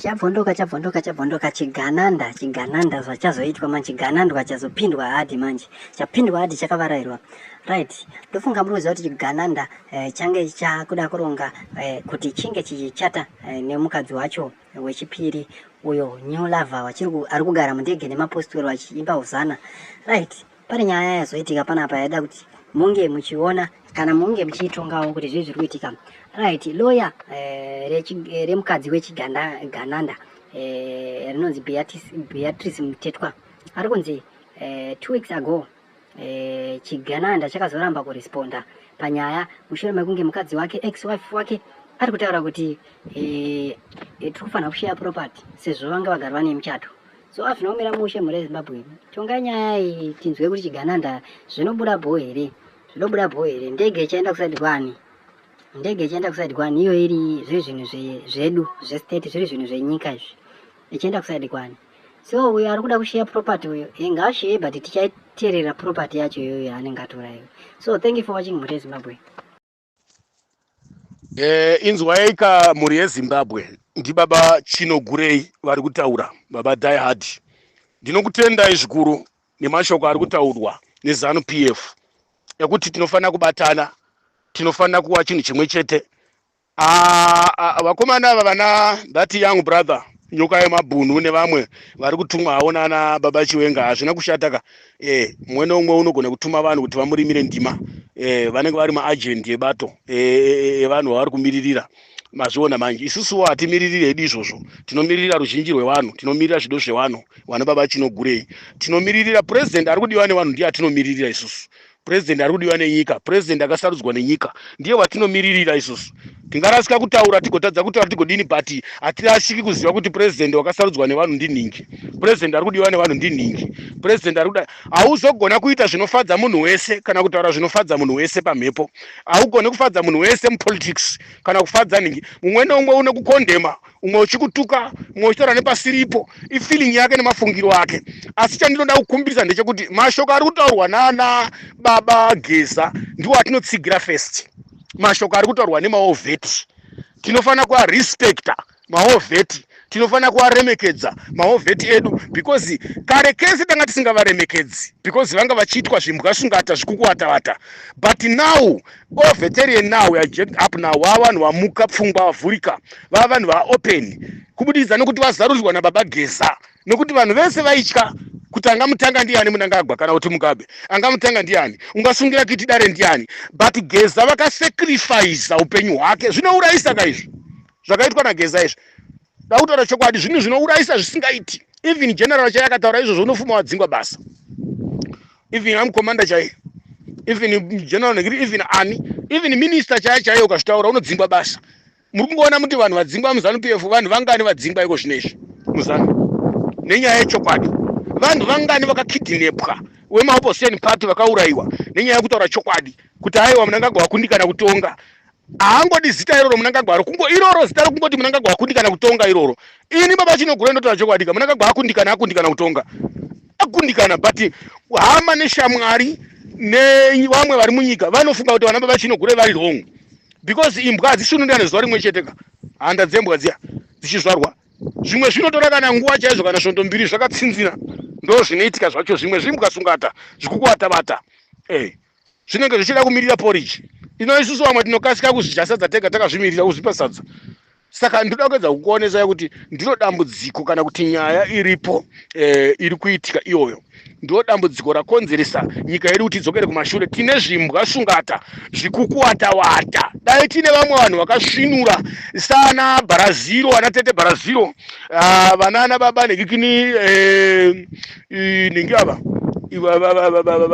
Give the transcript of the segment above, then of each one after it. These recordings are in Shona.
Chabvondoka chabvondoka chabvondoka chigananda chigananda zvachazoitwa manje chiganandwa chazopindwa hadi manje chapindwa hadi chakavarairwa right ndofunga muri kuziva kuti chigananda eh, change chakuda kuronga eh, kuti chinge chichichata eh, nemukadzi wacho wechipiri uyo new lover wachiri ari kugara mundege nemapostori vachiimba huzana right Pane nyaya yazoitika panapa yaida kuti munge muchiona kana munge muchiitongawo kuti zvii zviri kuitika right loya eh, eh, remukadzi wechigananda eh, rinonzi beatrice mutetwa ari kunzi two weeks ago chigananda chakazoramba kuresponda panyaya mushure mekunge mukadzi wake ex wife wake ari kutaura kuti tiri kufanira kusheya property sezvo vanga vagari vane muchato so hazvina kumira mushe mhuri yezimbabwe tongai nyaya iyi tinzwe kuti chigananda zvinobuda bho here zvinobuda bho here ndege ichaenda kusaidi kwani ndege ichaenda kusaidi kwani iyo iri zviri zvinhu zvedu zvestate zviri zvinhu zvenyika izvi ichienda kusaidi kwani so uyo ari kuda kusheya property uyo ingashiye but tichaiterera property yacho iyoyo anenge atora iyo so thank you for watching mhuri yezimbabwe Eh, inzwaika mhuri yezimbabwe ndibaba chino gurei vari kutaura baba die hard ndinokutendai zvikuru nemashoko ari kutaurwa nezanu p f ekuti tinofanira kubatana tinofanira kuva chinhu chimwe chete Ah, ah, vakomana ava vana that young brother nyoka yemabhunu nevamwe vari kutumwawo nana baba chiwenga hazvina kushata ka eh, mumwe neumwe unogona kutuma vanhu kuti vamurimire ndima eh, vanenge vari maajendi ebato eh, eh, evanhu eh, vavari kumiririra mazviona manje isusuwo hatimiririri hedu izvozvo tinomiririra ruzhinji rwevanhu tinomirira zvido zvevanhu vana baba chinogurei tinomiririra purezidendi ari kudiwa nevanhu ndiye atinomiririra isusu purezidendi ari kudiwa nenyika purezidendi akasarudzwa nenyika ndiye watinimiririra isusu tingarasika kutaura tigotadza kutaura tigodini but hatirashiki kuziva kuti purezidendi wakasarudzwa nevanhu ndinhingi purezidendi ari kudiwa nevanhu ndinhingi purezidendi ari kuda hauzogona kuita zvinofadza munhu wese kana kutaura zvinofadza munhu wese pamhepo haugone kufadza munhu wese mupolitics kana kufadza nhingi mumwe neumwe une kukondema umwe uchikutuka umwe uchitaura nepasiripo ifeeling yake nemafungiro ake asi chandinoda kukumbirisa ndechekuti mashoko ari kutaurwa nana baba geza ndiwo atinotsigira first mashoko ari kutaurwa nemaovheti tinofanira kuarespecta maovheti tinofanira kuvaremekedza maovheti edu because kare kese tanga tisingavaremekedzi because vanga vachiitwa zvimbwa svungata zvikukuvatavata but now all veteran now we are jacked up now vava vanhu vamuka pfungwa vavhurika vava vanhu vaopen kubudikidza nokuti vazarurirwa nababa geza nokuti vanhu vese vaitya kuti angamutanga ndiani munangagwa kana kuti mugabe angamutanga ndiani ungasungira kiti dare ndiani but geza vakasacrifice upenyu hwake zvinourayisa ka izvi zvakaitwa nageza izvi Ndakutaura chokwadi zvinhu zvinourayisa zvisingaiti. Even general chaiye akataura izvozvo unofuma wadzingwa basa. Even am commander chaiye. Even general negiri even ani. Even minister chaiye chaiye ukazvitaura unodzingwa basa. Muri kungoona muti vanhu vadzingwa muzanu PF vanhu vangani vadzingwa iko zvinezvi muzanu. Nenyaya yechokwadi. Vanhu vangani vakakidinepwa wemaopposition party vakaurayiwa nenyaya yekutaura chokwadi kuti aiwa munangagwa wakundikana kutonga haangodi zita iroro munangagwa ro kungo iroro zita ro kungoti munangagwa akundikana kutonga iroro ini baba chinogura inotaura chokwadika munangagwa akundikana akundikana kutonga akundikana but hama neshamwari nevamwe vari munyika vanofunga kuti vana baba chinogura vari wrong because imbwa hadzishunurana zuva rimwe chete ka handa dzembwa dziya dzichizvarwa zvimwe zvinotora kana nguva chaizvo kana svondo mbiri zvakatsinzina ndo zvinoitika zvacho zvimwe zvimbwa sungata zvikukuvatabata e eh, zvinenge zvichida kumirira porridge ino isusu vamwe tinokasika kuzvidya sadza tega takazvimirira kuzvipa sadza saka ndinoda kuedza kukuonesai kuti ndiro dambudziko kana kuti nyaya iripo eh, iri kuitika iyoyo ndiro dambudziko rakonzeresa nyika yedu kuti idzokere kumashure tine zvimbwa svungata zviri kukuwatawata dai tine vamwe vanhu vakasvinura sana bharaziro vana tete bharaziro ah, vana ana baba nekikini eh, eh, nenge ava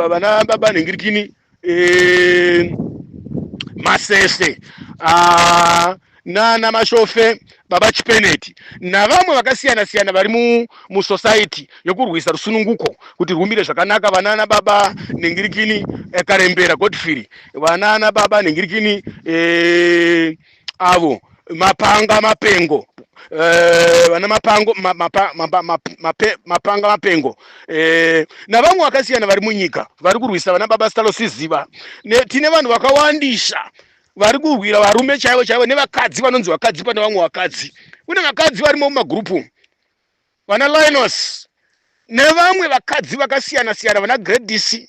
vana baba nhingirikini eh, masese ah, nana mashofe baba chipeneti navamwe vakasiyana siyana vari musosaiti yokurwisa rusununguko kuti rwumire zvakanaka vanana baba nhingirikini eh, karembera godfrey vanana baba nhingirikini eh, avo mapanga mapengo eh, vana mapango ma, mapa, mapa, map- mape, mapanga mapengo eh, navamwe vakasiyana vari munyika vari kurwisa vana baba sitalosiziva ne, tine vanhu vakawandisa vari kurwira varume chaivo chaivo nevakadzi vanonzi vakadzi pane vamwe vakadzi kune vakadzi varimo mumagurupu umu. vana Linus nevamwe vakadzi vakasiyana siyana vana Gladys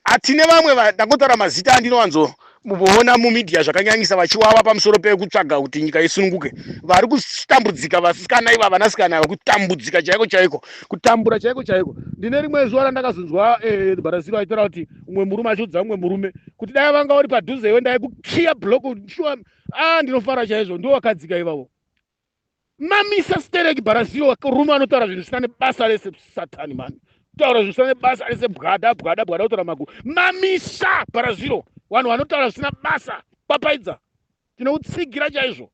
ati nevamwe ndakutaura mazita andinowanzo muona mumedia zvakanyanyisa vachiwawa pamusoro pekutsvaga kuti nyika isununguke vari kutambudzika vasikana iva vanasikana ava kutambudzika chaiko chaiko kutambura chaiko chaiko ndine rimwe zuva randakazonzwa eh, barasiro aitaura kuti umwe murume achiudza umwe murume kuti dai vanga uri padhuze iwe ndaikukiya block shuwa a ah, ndinofara chaizvo ndiwo wakadzika ivavo mamisa stereki bharazio rume anotaura zvinhu zvisina nebasa rese satani mani kutaura zvinhu zvisina nebasa rese bwada bwada bwada kutaura maguru mamisa bharazio vanhu vanotaura zvisina basa papaidza tinoutsigira chaizvo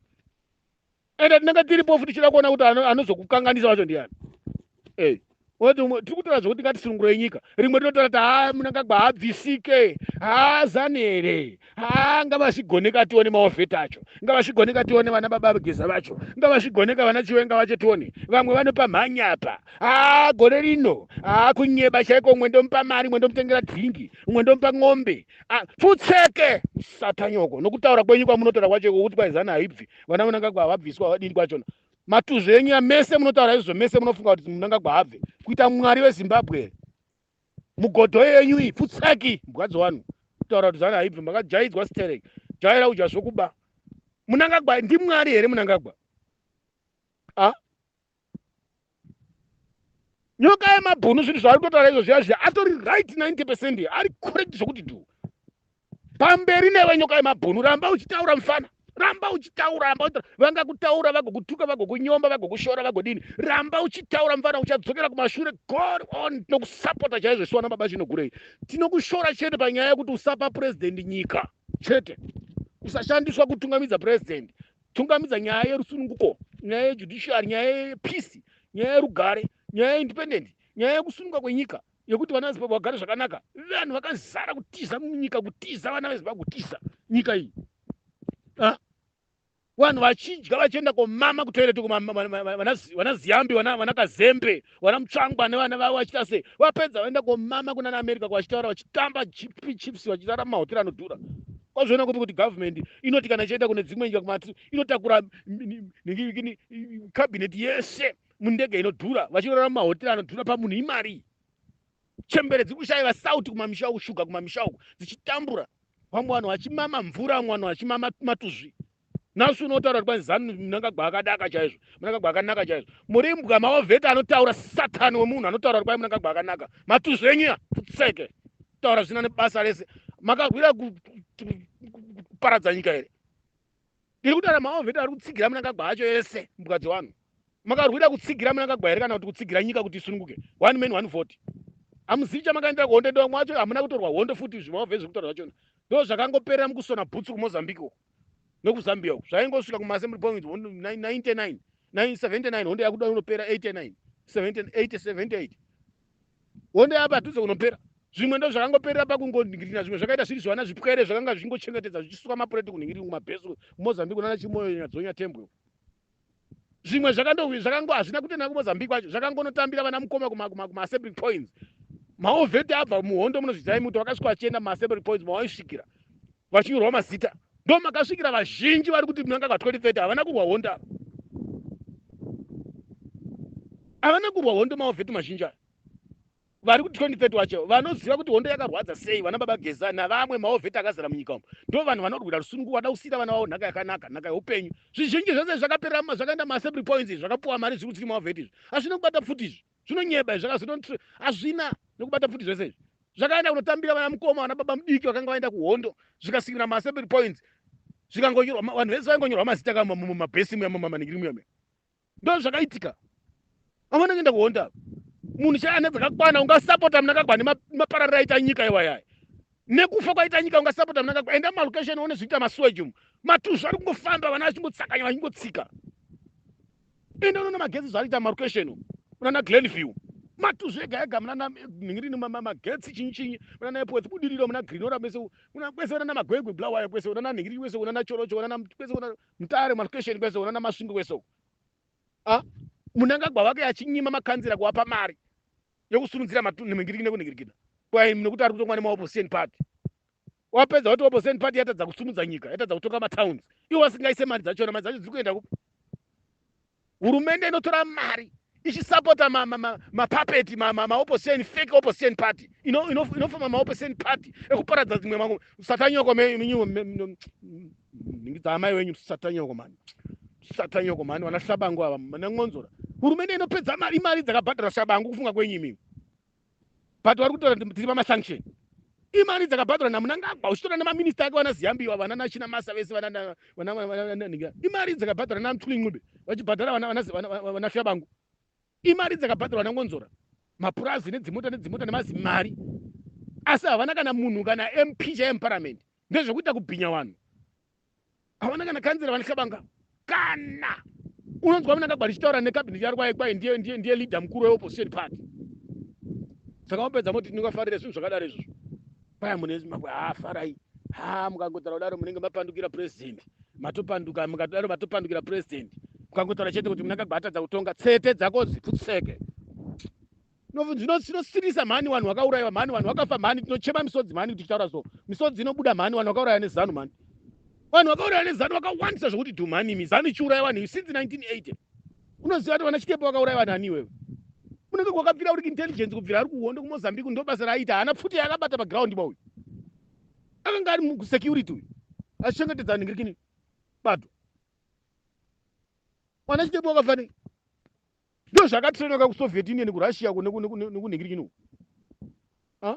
ende tinenge tiripofu tichida kuona kuti anozokukanganisa vacho ndiani hey tiri kutaura zvekuti ngatisunungurei nyika rimwe rinotaura kuti haa munangagwa haabvisike haa zani here haa ngavazvigoneka tione maovheta acho ngavazvigoneka tione vana baba vageza vacho ngavazvigoneka vana chiwenga vacho tione vamwe vanopa mhanya apa haa gore rino haa kunyeba chaiko umwe ndomupa mari umwe ndomutengera dhingi umwe ndomupa ng'ombe pfutseke satanyoko nokutaura kwenyu kwamunotaura kwacho kuti kwaizani haibvi vana munangagwa havabviswa vadini kwachona matuzvi enyu mese munotaura izvozvo mese munofunga kuti munangagwa habve kuita mwari wezimbabwe here mugodho yenyu iyi pfutsaki mbwadzo wanu kutaura kuti zana haibvi makajaidzwa sterek jaira udya zvokuba munangagwa ndimwari here munangagwa a nyoka yemabhunu zvinhu zvaari kutotaura izvo zviya zviya atori right 90 percent ari correct zvokuti du pamberi newe nyoka yemabhunu ramba uchitaura mfana ramba uchitaura ramba uchitaura vangakutaura vagokutuka vagokunyomba vagokushora vagodini ramba uchitaura mfana uchadzokera kumashure god on tinokusapota chaizvo siwana baba chinogurei tinokushora chete panyaya yekuti usapa purezidendi nyika chete usashandiswa kutungamidza purezidendi tungamidza nyaya yerusununguko nyaya yejudiciary nyaya yepeace nyaya yerugare nyaya yeindependent nyaya yekusununga kwenyika yekuti vana vezimbabwe vagare zvakanaka vanhu vakazara kutiza munyika kutiza vana vezimbabwe kutiza nyika iyi ah? vanhu vachidya vachienda komama kutoireti vana ziyambi vana kazembe vana mutsvangwa nevana vavo vachiita sei vapedza vaenda komama kunana america kwavachitaura vachitamba gp chips vachitara mahotera anodhura kwazviona kupi kuti government inoti kana ichaenda kune dzimwe nyika kumati inotakura cabinet yese mundege inodhura vachirora mumahotera anodhura pamunhu imari chembere dziri kushaiva sauti kumamisha uku shuga kumamisha uku dzichitambura vamwe vanhu vachimama mvura vamwe vanhu vachimama matuzvi nasu unotaura kuti kwanzi zanu munangagwa akadaka chaizvo munangagwa akanaka chaizvo muri mbwa maovheta anotaura satani wemunhu anotaura kuti kwai munangagwa akanaka matuzvenyia futseke taura zvina nebasa rese makahwira kuparadza nyika here ndiri kutaura maovheta ari kutsigira munangagwa acho ese mbwa dzevanhu makarwira kutsigira munangagwa here kana kuti kutsigira nyika kuti isununguke one man one vote hamuzivi chamakaendera kuhondo ndomwacho hamuna kutorwa hondo futi zvimaovhe zviri kutaura zvachona ndo zvakangoperera mukusona bhutsu kumozambique uko nekuzambia uku zvaingosvika kumaassembly point 99 79 hondo yakuda unopera 89 78 hondo yapadhuze kunopera zvimwe ndo zvakangoperera pakungonhingirina zvimwe zvakaita zviri zvivana zvipwere zvakanga zvichingochengetedza zvichisuka mapureti kunhingiringu mabhesi mozambique nana chimoyo nyadzonya tembwe zvimwe zvakandowi zvakango hazvina kutenda kumozambique kwacho zvakangonotambira vana mukoma kumaassembly points maovheti abva muhondo munozvizirai muti vakasvika vachienda kumaassembly points mavaisvikira vachinyorwa mazita ndo makasvikira vazhinji vari kuti munanga ka 2030 havana kurwa hondo ava havana kurwa hondo maovheti mazhinji aya vari kuti 2030 wacho vanoziva kuti hondo yakarwadza sei vana baba geza navamwe maovheti akazara munyika umu ndo vanhu vanorwira rusunungu vada kusiira vana vavo nhaka yakanaka nhaka yeupenyu zvizhinji zvese zvakaperera zvakaenda maassembly points izvi zvakapuwa mari zviri kutsiri maovheti izvi hazvina kubata pfuti izvi zvinonyeba izvi zvakazoto hazvina nekubata pfuti zvese izvi zvakaenda kunotambira vana mukoma vana baba mudiki vakanga vaenda kuhondo zvikasikira maassembly points zvikangonyorwa vanhu vese vaingonyorwa mazita kamumabhesi muya mumamaningiri muya muya ndo zvakaitika amana kuenda kuhonda apa munhu chaiye ane dzakakwana ungasapota munakagwa nemapararira aita nyika iwayaya nekufa kwaita nyika ungasapota munakagwa enda mumalocation one zviita masuweji umu matuzvu ari kungofamba vana vachingotsakanya vachingotsika enda unoona magetsi zvaariita mumalocation umu unana glen view matuzvu ega ega munana nhingirini magetsi chinyi chinyi munana epwetsi budiriro muna grinora mese kwese unana magwegwe bulawayo kwese unana nhingirini kwese unana chorocho unana kwese unana Mutare malcation kwese uko nana Masvingo kwese uko. Ah, Munangagwa wake achinyima makanzira kuwapa mari yokusurudzira matunhu mingiriki nekunhingirikita kwaimi nokuti ari kutongwa nemaopposition party wapedza kuti opposition party yatadza kusumudza nyika yatadza kutonga matowns iwo wasingaise mari dzachona mari dzacho dziri kuenda kupi hurumende inotora mari ichisapota mapapeti ma, ma, ma, maopposition fake opposition party inofoma ino, ino maopposition party ekuparadza dzimwe mangu satanyoko ningidza amai wenyu satanyoko mani satanyoko mani vana shabangu ava manan'onzora hurumende inopedza mari mari dzakabhadhara shabangu kufunga kwenyu imimi but vari kutaura kuti tiri pamasanction imari dzakabhadharwa namunangagwa uchitora nemaminista ake vana ziyambiwa vana nachina masa vese vananhinga imari dzakabhadharwa namthuli ncube vachibhadhara vana fyabangu imari dzakabhadharwa nangonzora mapurazi nedzimota nedzimota nemazimari asi havana kana munhu kana mp chaiye muparamende ndezvekuita kubhinya vanhu havana kana kanzira vanixabanga kana unonzwa munangagwari chitaura nekabineti yari kwaye kwaye ndiye ndiye ndiye leader mukuru weopposition party saka wapedza moti tinongafarira zvinhu zvakadaro izvozvo kwaya mune zimbabwe haa farai haa mukangotaura kudaro munenge mapandukira president matopanduka mukadaro matopandukira president mukangotaura chete kuti munangagwatadza kutonga tsete dzako dziputseke zvinosiririsa mhani vanhu vakaurayiwa mhani vanhu vakafa mhani tinochema misodzi mhani kuti tichitaura so misodzi inobuda mhani vanhu vakauraya nezanu mhani vanhu vakauraya nezanu vakawandisa zvokuti dhu mhani imi zanu ichiuraya vanhu iyi since 1980 unoziva kuti vana chitepo vakauraya vanhu ani iwewe unenge kwakabvira uri kuintelligence kubvira ari kuhondo kumozambique ndo basa raaita haana pfuti yaakabata paground ba uyu akanga ari musecurity uyu achichengetedza vanhu ngirikini bato mwana chitepo wakafanei Ndo zvaka trainoka ku Soviet Union ku Russia ku neku neku neku nengirikini uku. Ah?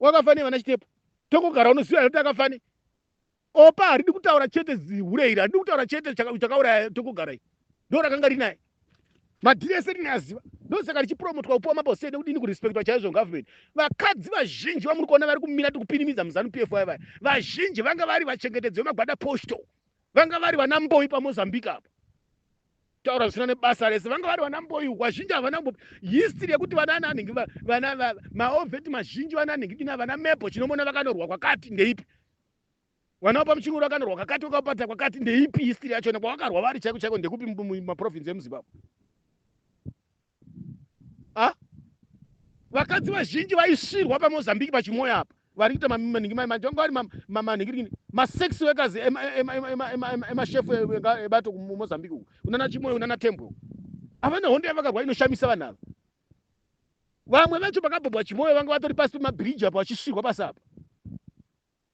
Wakafa ne vana chitepo. Tongo gara unoziva kuti akafa ne. Opa haridi kutaura chete zihure iri, haridi kutaura chete chakauraya tongo gara iri. Ndo rakanga rinaye. Madhiri ese rine aziva. Ndo saka richipromotwa kupuwa mabose nekudini kurespectwa chaizvo government. Vakadzi vazhinji vamuri kuona vari kumira tikupinimidza muzanu PF vaya vaya. Vazhinji vanga vari vachengetedzi vemagwada postal. Vanga vari vana mboyi pa Mozambique apa. taura zvisina nebasa rese vanga vari vana mboyu vazhinji havana kumbo history yekuti vana ananhingi vana maoveti mazhinji vana anhingi dina vana mepo chinomona vakanorwa kwakati ndeipi vana vapa muchinguru vakanorwa kakati vakapata kwakati ndeipi history yachona kwavakarwa vari chaiko chaiko ndekupi maprovince emuzimbabwe ah, vakadzi vazhinji vaisvirwa pamozambique pachimoya apa vari kuita manhingi manje vanga vari manhingirikini masex wekazi emashefu ebato kumozambique uku unana chimoyo unana tembwe uku havana hondo yavakarwa inoshamisa vanhu ava vamwe vacho vakabhabwa chimoyo vanga vatori pasi pemabhiriji apa vachisvirwa pasi apa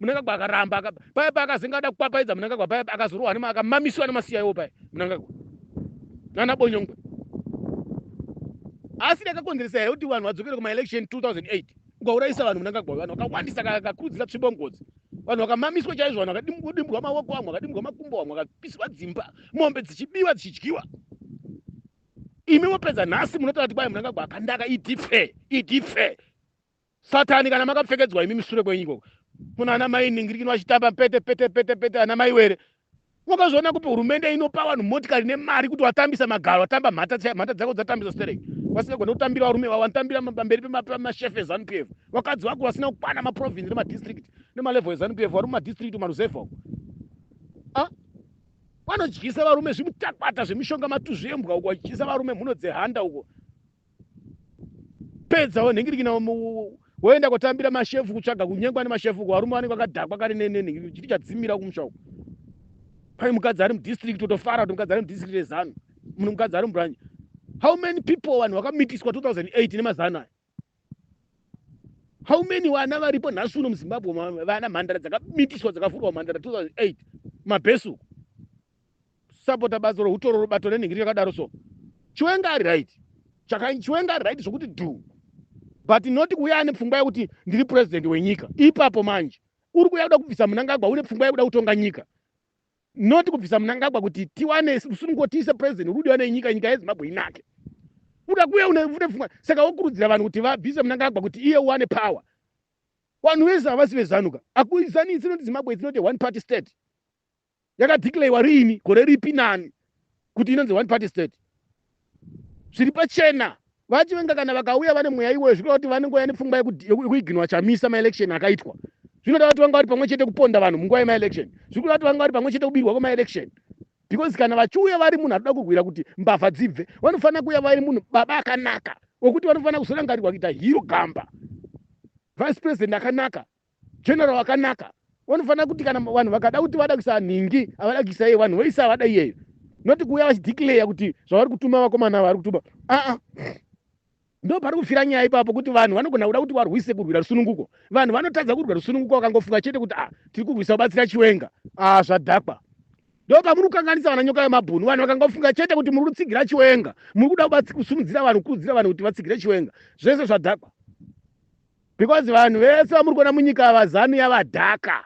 munangagwa akaramba aka, paya paya akazenga ada kupapaidza munangagwa paya akazorohwa nema akamamiswa nemasiyaiwo paya munangagwa nana bonyongwe asi ndakakonzeresa here kuti vanhu vadzokere kumaelection 2008 ukaurayisa vanhu munangagwa vanhu vakawandisa kakurudzira tsvimbo ngozi vanhu vakamamiswa chaizvo vanhu vakadimbwa maoko vamwe vakadimbwa makumbo vamwe vakapiswa dzimba mombe dzichibiwa dzichidyiwa imi mopedza nhasi munotaura kuti kwai munangagwa akandaka idife idife satani kana makapfekedzwa imi misure kwenyu ikoko kuna ana mai ningirikino vachitamba pete pete pete pete ana mai were wakazviona kupi hurumende inopa vanhu motikari nemari kuti watambisa magaro watamba mhata mhata dzako dzatambisa sterek vasingagona kutambira varume vavo vanotambira pamberi pemashefe ezanup f vakadzi vako vasina kukwana maprovince nemadistrict nemalevel ezanup f vari mumadistrict maruzevha uko ah? vanodyisa varume zvimutakwata zvemishonga matuzvi embwa uko vachidyisa varume mhuno dzehanda uko pedza wenhingirikina woenda kotambira mashefu kutsvaga kunyengwa nemashefu ko varume vanenge vakadhakwa kare nenhingirikina chiti chadzimira kumusha uku pai mukadzi ari mudistrict totofara kuti mukadzi ari mudistrict rezanu mune mukadzi ari mubranch how many people vanhu vakamitiswa 2008 nemazano aya how many vana varipo nhasi uno muzimbabwe vana mhandara dzakamitiswa dzakavhurwa mhandara 2008 mabhesuku kusapota batsoro hutoro rubato nenhingiri yakadaro so chiwenga ari right chakanyi chiwenga ari right zvokuti dhu but not kuuya ane pfungwa yekuti ndiri president wenyika ipapo manje uri kuuya kuda kubvisa munangagwa une pfungwa yekuda kutonga nyika not kubvisa munangagwa kuti tiwane rusunungo tiise president uri kudiwa nenyika nyika yezimbabwe inake uda kuuya une pfungwa saka wokurudzira vanhu kuti vabvise munangagwa kuti iye uwane power vanhu vese havasi vezanuka akuzanisi noti zimbabwe it's not a one party state yakadeclarewa riini gore ripi nani kuti inonzi one party state zviri pachena vachivenga kana vakauya vane mweya iwoyo zvikureva kuti vanengouya nepfungwa yekuiginwa chamisa maelection akaitwa zvinoda kuti vanga vari pamwe chete kuponda vanhu munguva yemaelection zviri kuda kuti vanga vari pamwe chete kubirwa kwemaelection because kana vachiuya vari munhu anoda kurwira kuti mbavha dzibve vanofanira kuuya vari munhu baba akanaka wekuti vanofanira kuzorangarirwa kuita hiro gamba vice president akanaka general wakanaka wanofanira kuti kana vanhu vakada kuti vada kuisa nhingi avada kuisa iye vanhu voisa avada iyeyo noti kuuya vachideclare kuti zvavari kutuma vakomana vari kutuma aa ndo pari kufira nyaya ipapo kuti vanhu vanogona kuda kuti varwise kurwira rusununguko vanhu vanotadza kurwira rusununguko vakangofunga chete kuti a ah, tiri kurwisa kubatsira chiwenga a ah, zvadhakwa ndo pamuri kukanganisa vana nyoka yemabhunu vanhu vakangofunga chete kuti muri kutsigira chiwenga muri kuda kusumudzira vanhu kukurudzira vanhu kuti vatsigire chiwenga zvese zvadhakwa because vanhu vese vamuri kuona munyika ava zanu yavadhaka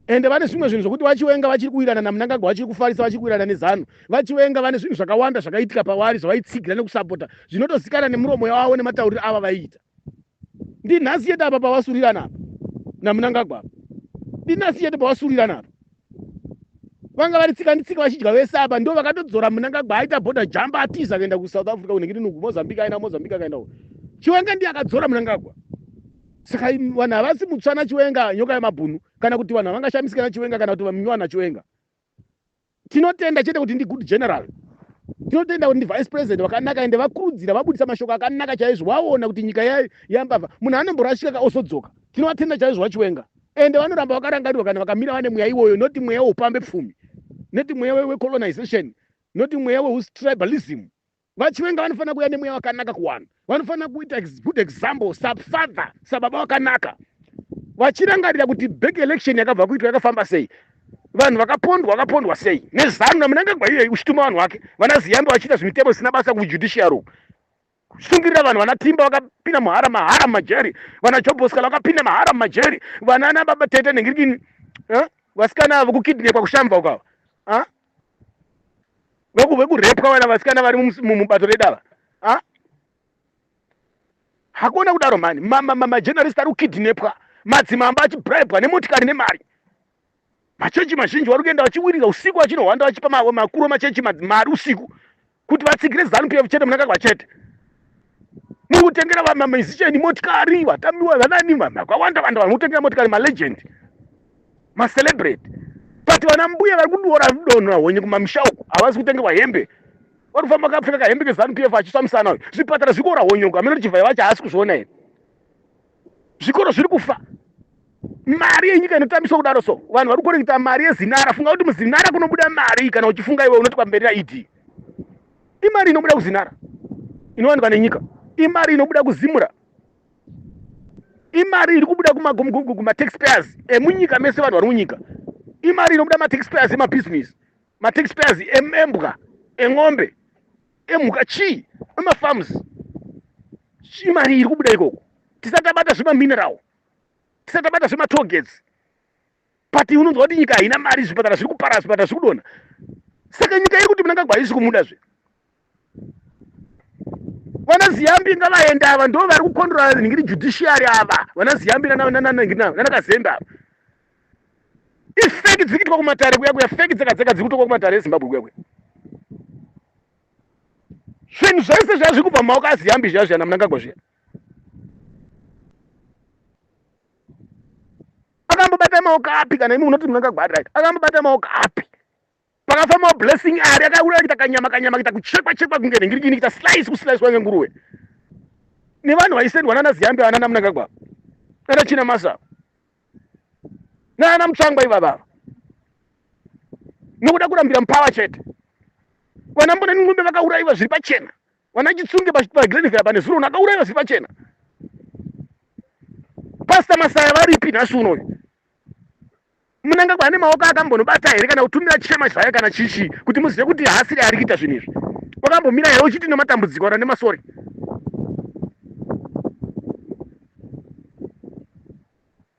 ende vane zvimwe zvinhu zvokuti vachiwenga vachiri kuwirana namunangagwa vachiri kufarisa vachiri kuwirana nezanu vachiwenga vane zvinhu zvakawanda zvakaitika pavari zvavaitsigira nekusapota zvinotozikana nemuromo yavavo nematauriro ava vaiita ndinhasi yete apa pavasurirana apa namunangagwa apa ndinhasi yete pavasurirana apa vanga vari tsika nditsika vachidya vese apa ndo vakatodzora munangagwa aita border jump atiza akaenda kusouth africa kunenge ndinuku mozambique aina mozambique akaenda ku chiwenga ndiye akadzora munangagwa saka vanhu havasi mutsvana chiwenga nyoka yemabhunu kana kuti vanhu havangashamisika nachiwenga kana kuti vaminywa nachiwenga tinotenda chete kuti ndi good general tinotenda kuti ndi vice president vakanaka ende vakurudzira vabudisa mashoko akanaka chaizvo vaona kuti nyika yambavha munhu anomborashika ka osodzoka tinovatenda chaizvo vachiwenga ende vanoramba vakarangarirwa kana vakamira vane mweya iwoyo noti mweya weupambe pfumi noti mweya wecolonization noti mweya weustribalism vachiwenga vanofanira kuuya nemweya wakanaka kuwana vanofanira kuita good example safather sababa wakanaka vachirangarira kuti back election yakabva kuitwa yakafamba sei vanhu vakapondwa vakapondwa sei nezanu namunangagwa iyoyi uchituma vanhu vake vana ziyambe vachiita zvimitemo zvisina basa kujudiciary uku kushingirira vanhu vana timba vakapinda muhara mahara mumajeri vana joboskala vakapinda mahara mumajeri vana ana baba tete nengirikini eh? vasikana avo kukidnepwa kushamva ukava ah? vekurepwa vana vasikana vari mubato redava ah? hakuna kudaro mani majenarist ari kukidnepwa madzimamba achibribwa nemotikari nemari machechi mazhinji vari kuenda vachiwirira usiku vachinohwanda vachipa makuru machechi mari usiku kuti vatsigire zanu pf chete munangagwa chete muri kutengera vamamizisheni motikari vatamiwa vanani vakawanda vanda vanhu kutengera motikari malegend macelebrate but vana mbuya vari kudiora donho rahonye kumamisha uku havasi kutengerwa hembe vari kufamba vakapfeka kahembe kezanu pf achiswa musana uyu zvipatara zviri kuora honye uku hameno kuti chivhai vacho haasi kuzviona here zvikoro zviri kufa mari yenyika inotambiswa kudaro so vanhu vari kukorekita mari yezinara funga kuti muzinara kunobuda mari kana uchifunga iwe unoti pamberi yaed imari inobuda kuzinara inowanikwa nenyika imari inobuda kuzimura imari iri kubuda kumataxpayers emunyika mese vanhu vari munyika imari inobuda mataxpayers emabhizinesi mataxpayers embwa en'ombe emhuka chii emafarms chii mari iri kubuda ikoko tisati tabata zvemamineral tisati tabata zvematogets but unonzwa kuti nyika haina mari zvipatara zviri kupara zvipatara zviri kudona saka nyika iri kuti munangagwa haisi kumuda zve vana ziyambi ngavaenda ava ndo vari kukondora nhingiri judiciary ava vana ziyambi nanakazembe ava ifeki dziri kuitwa kumatare kuya kuya feki dzega dzega dziri kutokwa kumatare ezimbabwe kuya kuya zvinhu zvese zviya zviri kubva mumaoko aziyambi zviya zviyana munangagwa zviya akambobata maoko api kana imi munoti munangagwa akai akambobata maoko api pakafamba blessing ari akauraya kuita kanyama kanyama kuita kuchekwa chekwa kunge ringirigini kuita slice kuslicewa ngenguruwe nevanhu vaisendwa nana ziyambe vanana munangagwa nana china masa nana mutsvangwa ivavava nokuda kurambira mupawa chete vana mbona ningombe vakaurayiwa zviri pachena vana chitsunge pagrenvera pane zuro uno akaurayiwa zviri pachena pasta masaya varipi nhasi unoyu munangagwa ane maoko akambonobata here kana kutumira chema zvaye kana chichi kuti muzive kuti haasiri ari kuita zvinhu izvi wakambomira here uchiti nematambudziko kana nemasori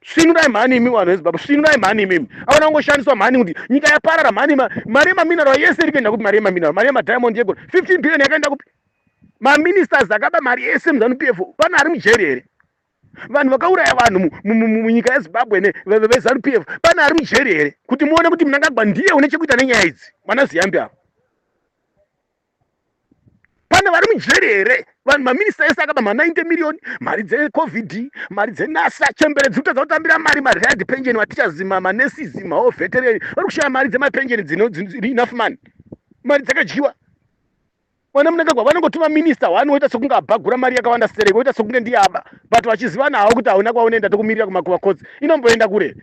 svinurai mhani imi vanhu vezimbabwe svinurai mhani imimi aona kungoshandiswa mhani kuti nyika yaparara mhani mari yemaminero yese iri kuenda kupi mari yemaminero mari yemadiamond yegol 15 billion yakaenda kupi maministers akaba mari yese muzanup f pana ari mujeri here vanhu vakauraya vanhu munyika yezimbabwe nevezanu pf pane ari mujeri here kuti muone kuti munangagwa ndiye une chekuita nenyaya idzi vana ziyambi avo pane vari mujeri here vanhu maminista ese akaba ma90 miriyoni mari dzecovid mari dzenasa chembere dziri kutadza kutambira mari mariad penjeni vatichazima manesizi maho vetereni vari kushaya mari dzemapenjeni dzinoenough mani mari dzakadyiwa mwana munangagwa vanongoti maminista wani woita sekunge abhagura mari yakawanda sere woita sekunge ndiye aba but vachizivana hawo kuti hauna kwaunoenda tokumirira kumakuva cots inomboenda kure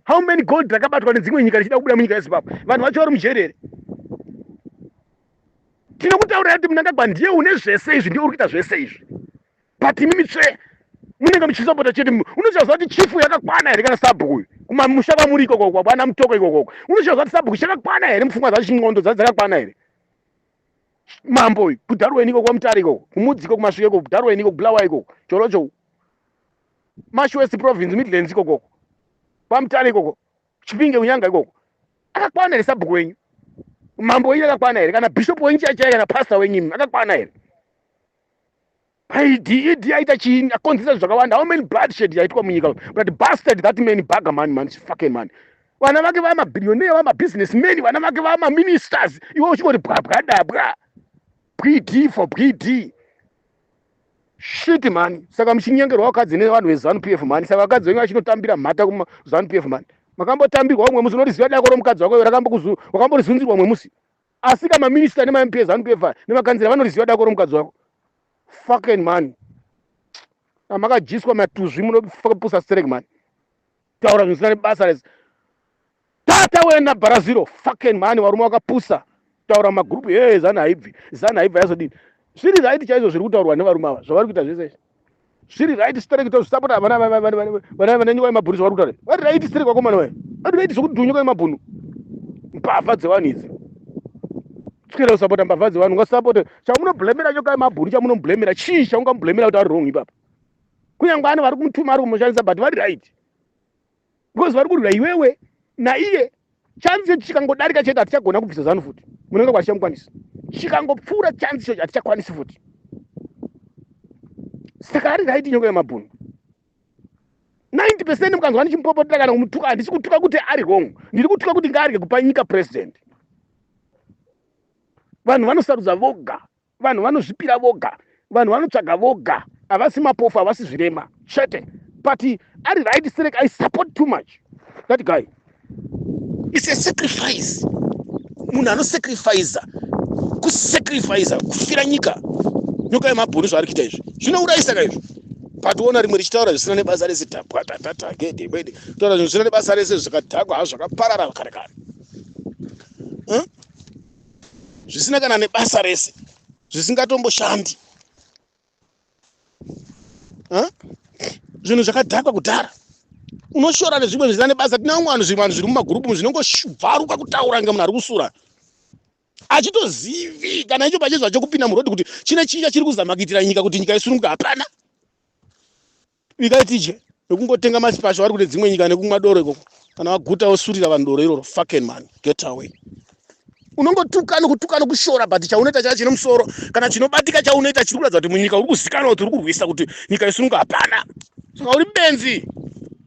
how many gold rakabatwa nedzimwe nyika richida kubuda munyika yezimbabwe vanhu vacho vari mujeri here tinokutaurira kuti munangagwa ndiye une zvese izvi ndiye uri kuita zvese izvi but imi mitsve munenge muchisapota chete unochaziva kuti chifu yakakwana here kana sabhuku uyu kumamusha kwamuri ikokoko kwana mutoko ikokoko unochaziva kuti sabhuku chakakwana here mupfungwa dzacho ndxondo dzaa dzakakwana here mambo uyu kudharweni ikoko kwamutare ikoko kumudzi ikoko kumasvike ikoko kudharweni ikoko bulawa ikoko chorocho mashwest province midlands ikoko kwamutare ikoko chipinge kunyanga ikoko akakwana here sabhuku wenyu mambo wenyu akakwana here kana bishop wenyu chaichai kana pastor wenyu akakwana here Paidi idi aita chini akonzesa zvakawanda how many blood shed yaitwa munyika but bastard that man baga man man fucking man vana vake vama billionaire vama business men vana vake vama ministers iwe uchingoti bwabwa dabwa bwidi for bwidi shit man saka muchinyengerwa vakadzi nevanhu vezanu p f man saka vakadzi venyu vachinotambira mhata kumazanu p f man makambotambirwa umwe musi unoriziva dako romukadzi wako rakamborizunzirwa umwe musi Asika ma minister nema MP zanu PF nema kanzira vanoriziva dako romukadzi wako. Fucking man. Amakajiswa matuzvi munopusa sterek man. Taura zvinosina nebasa rese. Tata wena baraziro fucking man varume vakapusa. Taura magroup hey zanu haibvi. Zanu haibvi yazodini. Zviri right chaizvo zviri kutaurwa nevarume ava zvavari kuita zvese. zviri right sterek tozvisapota vana vananyuka nemabhunhu vari kutaura vari right sterek vakomana vaye vari right zvekuti unyuka nemabhunhu mbavha dzevanhu idzi tikera kusapota mbavha dzevanhu ungasapote chamunoblemera chokai mabhunhu chamunoblemera chii chaungamublemera kuti ari wrong ipapa kunyange ani vari kumutuma ari kumushandisa but vari right because vari kurwira iwewe naiye chanzi yetu chikangodarika chete hatichagona kubvisa zanu futi munenge kwachamukwanisa chikangopfuura chanzi chocho hatichakwanisi futi saka ari raiti nyoka yemabhunu 90 percent mukanzwa ndichimupopotera kana kumutuka handisi kutuka kuti ari wrong ndiri kutuka kuti ngaarye kupa nyika president vanhu vanosarudza voga Vanhu vanozvipira voga. Vanhu vanotsvaga voga. Havasi mapofu, havasi zvirema. Chete. But ari right Sterek I support too much. That guy. It's a sacrifice. Munhu anosacrificer. Kusacrificer. Kufira nyika. Nyoka yemabhunu zvaari kuita izvi. Zvinourayisaka izvi. Patoona rimwe richitaura zvisina nebasa rese tapwa tatata gede kwede. Taura zvisina nebasa rese zvakadhakwa hazvo zvakaparara kare kare. Huh? zvisina kana nebasa rese zvisingatomboshandi zvinhu zvakadhakwa kudhara unoshora nezvimwe zvisina nebasa tine vamwe vanhu zvimwe vanhu zviri mumagurupu zvinongobvaruka kutaura inge munhu ari kusura achitozivi kana icho pachezvacho kupinda murodhi kuti chine chinja chiri kuzama kuitira nyika kuti nyika isununguka hapana Bikai tije nekungotenga masipasha vari kune dzimwe nyika nekumwa doro ikoko kana waguta wosurira vanhu doro iroro fucking man get away unongotuka nokutuka nokushora but chaunoita chaya chine musoro kana chinobatika chaunoita chiri kuratidza kuti munyika uri kuzikanwa kuti uri kurwisa kuti nyika yesununga hapana saka uri benzi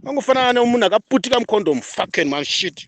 angofanana nemunhu akaputika mucondom fucking man shit